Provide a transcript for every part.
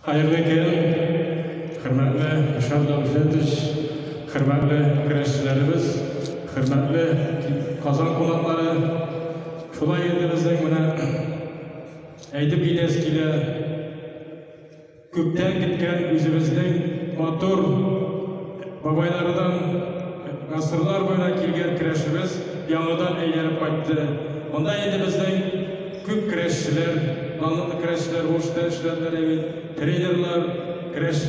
Хәерле көн, хөрмәтле Ишан Давлетович, хөрмәтле көрәшчеләребез, хөрмәтле Казан кунаклары. Шулай инде безнең менә әйтеп китәс килә. Күптән киткән үзебезнең матур бабайлардан гасырлар буена килгән көрәшебез яңадан әйләнеп кайтты. Монда инде безнең Күп көрәшчеләр, данлыклы көрәшчеләр уңышлар эшләделәр, ә бит тренерлар, көрәш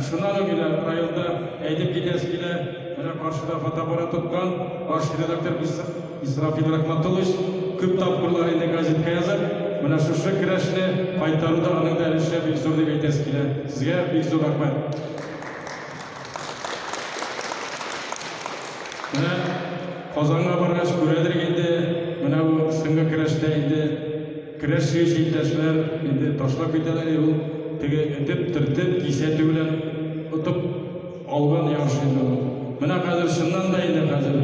Шуннан ук инде районда әйтеп китәсе килә, менә каршыда фотоаппарат тоткан баш редактор Исрафил Рахматуллович күп тапкырлар инде газетка язып, менә шушы көрәшне кайтаруда аның да өлеше бик зур дип әйтәсе килә. Сезгә бик зур рәхмәт. Менә Казанга баргач күрәдер инде, менә бу соңгы көрәштә инде көрәш сөюче иптәшләр инде ташлап китәләр, ул теге этеп, төртеп, кисәтү белән отып алган ярыш инде ул. Менә хәзер чыннан да инде хәзер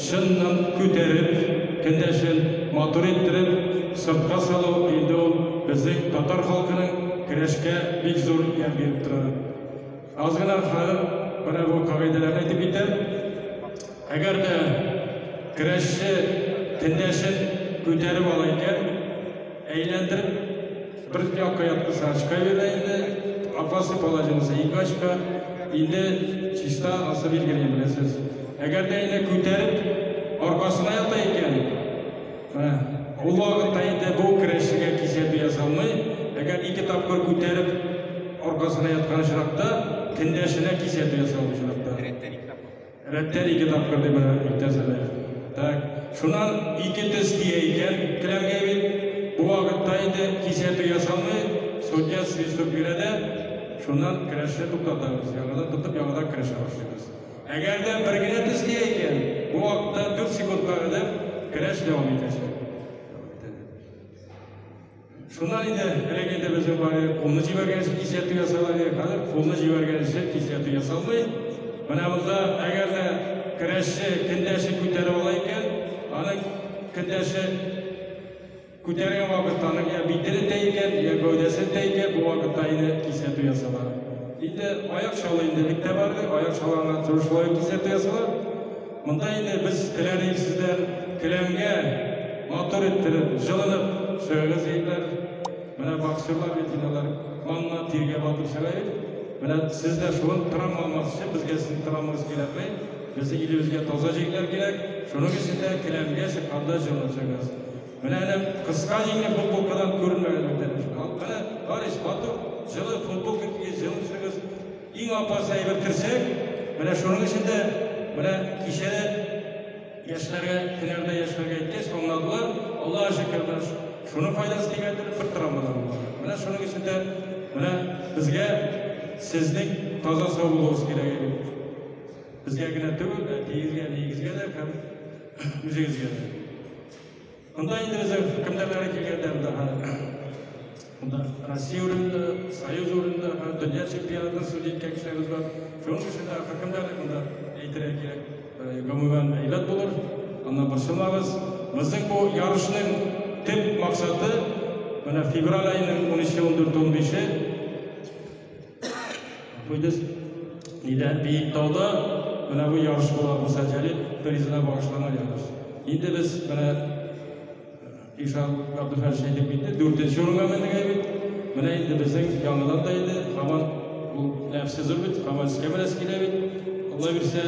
чыннан күтәреп, кендәшен матур иттереп, сыртка салу инде ул безнең татар халкының көрәшкә бик зур ярдәм биреп тора. Аз гына хәл менә бу кагыйдәләрне әйтеп китәм. Әгәр дә көрәшче тендәшен күтәреп ала икән, әйләндереп бер якка яткызса очка бирә инде, опасный положение булса ике очка, инде чиста асы билгеле беләсез. Әгәр дә инде күтәреп аркасына ята икән, Ул вакытта инде бу керәшенгә кисәтү ясалмый. Әгәр ике тапкыр күтәреп аркасына яткан очракта, кендәшенә кисәтү ясалган очракта. Рәттән ике тапкыр. Рәттән ике тапкыр дип әйтәсез. Так, шуннан ике тез тия икән келәмгә бит. Бу вакытта инде кисәтү ясалмый, судья свисток бирә дә, шуннан керәшне туктатабыз. Яңадан тотып, яңадан керәшә башлыйбыз. Әгәр дә бер генә төскә икән, бу вакытта 4 секундка кадәр көрәш дәвам итәчәк. Шуннан инде элек инде безнең бары кулны җибәргән өчен кисәтү ясала иде. Хәзер кулны җибәргән өчен кисәтү ясалмый. Менә монда әгәр дә көрәшче кендәшен күтәреп ала икән, аның кендәше Күтәргән вакытта аның я битере тәйгән, я гәүдәсе тәйгән, бу вакытта инде кисәтү ясала. Инде аяк чалы инде бик тә барды, аяк чаланнан торышлы кисәтү ясала. Монда инде без теләдек сездән келәмгә матур иттереп, җылынып чыгыгыз егетләр. Менә боксерлар бит инде алар канына тиргә батып чыга бит. Менә сез дә шуны травма алмас өчен безгә сезнең травмагыз кирәкми. Безнең илебезгә таза җегетләр кирәк. Шуның өчен дә келәмгә чыкканда җылынып чыгыгыз. Менә әле кыска җиңле футболкадан күренмәгән бүтән өчен. Ал, менә, Барис, матур, җылы футболка кигез, җылы чыгыз. Иң апасы әйбер терсәк. Менә шуның өчен дә, менә кичә дә яшьләргә, һөнәрдә яшьләргә әйткәч, аңладылар. Аллаһ шөкер, менә ш- шуның файдасы тигәндер, бер травмадан булмады. Менә шуның өчен дә, менә безгә сезнең таза сау булуыгыз кирәк иде. Безгә генә түгел, әтиегезгә, әниегезгә дә һәм үзегезгә дә. Монда инде безне кемдәрләре килгәндә монда Монда Россия урында, Союз урында, дөнья чемпионатын судья иткән кешеләребез бар. Шуның өчен дә хакимдәрлек монда әйтергә кирәк. Гомумән әйбәт булыр. Аннан борчылмагыз. Безнең бу ярышның төп максаты менә февраль аеның 13-14-15-е Куйдыз нидә Биектауда менә бу ярыш була Муса Җәлил призына багышланган ярыш. Инде без менә Ишан Габдулхәлич әйтеп китте, дүртенче урынга мендек әйбит. Менә инде безнең яңадан да инде һаман ул нәфсе зур бит, һаман искә менәсе килә бит. Алла бирсә,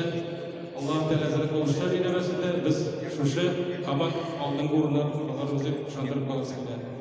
Аллаһ Тәгалә зирәк булышта бирәмәсен дә, без шушы һаман алдынгы урыннан аларыбыз дип ышандырып каласым килә.